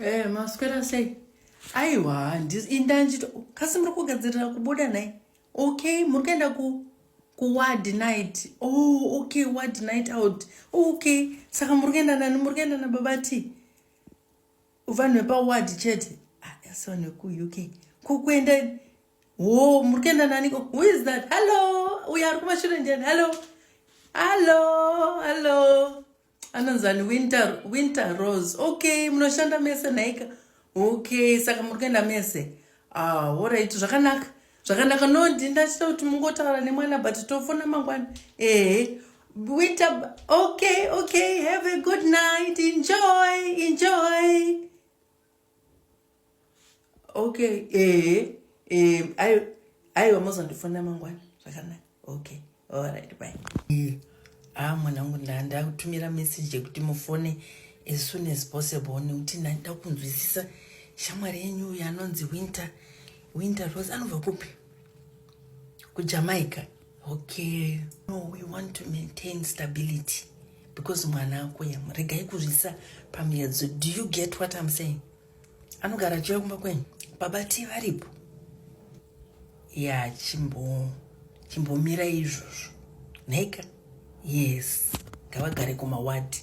Eh, maswera sei? Aiwa, inda ndito kasi muri kugadzirira kubuda naye. Okay, muri kuenda ku ku ward night. Oh, okay, ward night out. Okay, saka muri kuenda nani? Muri kuenda na baba T. Vanhu vepa ward chete. Ah, asi vanhu ku UK. Kukuenda Oh, muri kuenda nani? Who is that? Hello. Uya ari kumashure ndiani? Hello. Hello. Hello. anonzani winter, winter rose okay munoshanda mese nhaika okay saka muri kuenda mese ah, orit zvakanaka zvakanaka no ndindachita kuti mungotaura nemwana but tofona mangwana ehe winter okay okay have a good night enjoy enjoy okay eh eh ayo ayo mozondifonera mangwana zvakanaka okay alright bye ah mwanangu ndandakutumira message yekuti mufone as soon as possible nekuti ndandida kunzwisisa shamwari yenyu uyo anonzi winter winter rose anobva kupi kujamaica okay no we want to maintain stability because mwana ako yamu regai kuzvisa pamiedzo do you get what i'm saying anogara achiuya kumba kwenyu baba ti varipo ya chimbo chimbomira izvozvo nhaika yes ngavagare kumawadi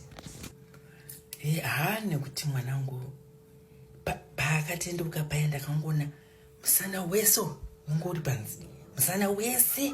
eh, ha nekuti mwana wangu paakatendeuka pa paya ndakangoona musana weso ungo uri panzi musana wese